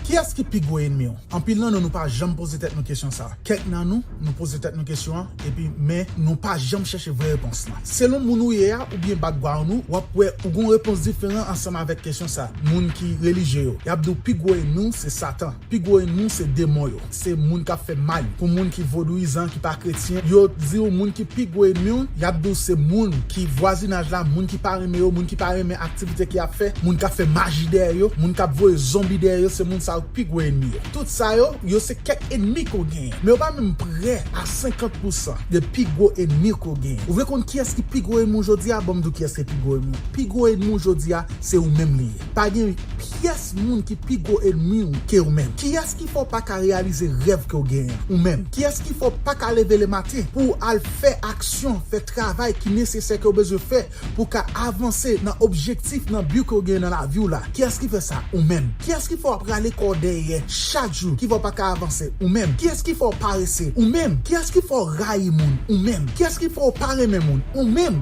Kiyès ki pi gwo enmi w? Anpil nan nou nou pa janm poze tèt nou kesyon sa a. Kèk nan nou, nou poze tèt nou kesyon an epi men nou pa janm chèche vrè repons lan. Selon moun ou ye a oubyen bakgwaoun ou, w ap wè ou gen yon repons diferan ansanm avèk kesyon sa a. Moun ki relijye yo, y ap di w pi gwo enmi w se Satan, pi gwo enmi w se demon yo. Se moun kap fè mal pou moun ki vodouyizan ki pa kretyen yo diw moun ki pi gwo enmiw yap diw se moun ki vwazinaj la moun ki pa renmen yo moun ki pa renmen aktivite ke yap fè moun kap fè maji dèyè yo moun kap voye zonbi dèyè yo se moun sa yo ki pi gwo enmi yo tout sa yo yo se kèk enmi ke w genyen men yo pa menm prè a 50 pousan de pi gwo enmi ke w genyen ou vle konn kiyès ki pi gwo enmi w jodi a banm diw kiyès ki pi gwo enmi w pi gwo enmi w jodi a se ou menm li ye. Pa gen pyès moun ki pi gwo enmi ou ke ou menm. Kiyès ki fè w pa ka reyalize rèv ke w genyen an, ou menm? Kiyès ki fè w pa ka leve le maten pou w al fè aksyon, fè travay ki nesesè ke w bezwen fè pou w ka avanse nan objektif, nan bi ke w genyen nan lavi w la? Kiyès ki fè sa? Ou menm. Kiyès ki fè w ap rale kò w dèyè chak jou, ki fè w pa ka avanse? Ou menm. Kiyès ki fè w parese? Ou menm. Kiyès ki fè w rayi moun? Ou menm. Kiyès ki fè w pa renmen moun? Ou menm.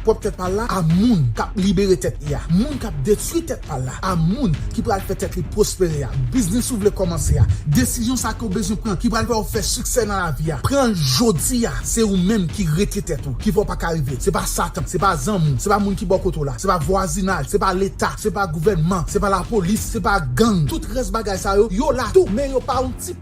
Pwòp tèt pa l la a moun k ap libere tèt li a, moun k ap detwi tèt pa l la a, moun ki pral fè tèt li pwospere a, biznis ou vle kòmanse a, desizyon sa a ke w bezwen pran ki pral fè w fè siksè nan lavi a, pran l jodi a, se ou menm ki rete tèt ou, ki fè w pa ka rive, se pa satan, se pa zanmi w, se pa moun ki bò kote w la, se pa vwazinaj, se pa leta, se pa gouvènman, se pa lapolis, se pa gang, tout rès bagay sa yo, yo la tou men yo pa yon ti.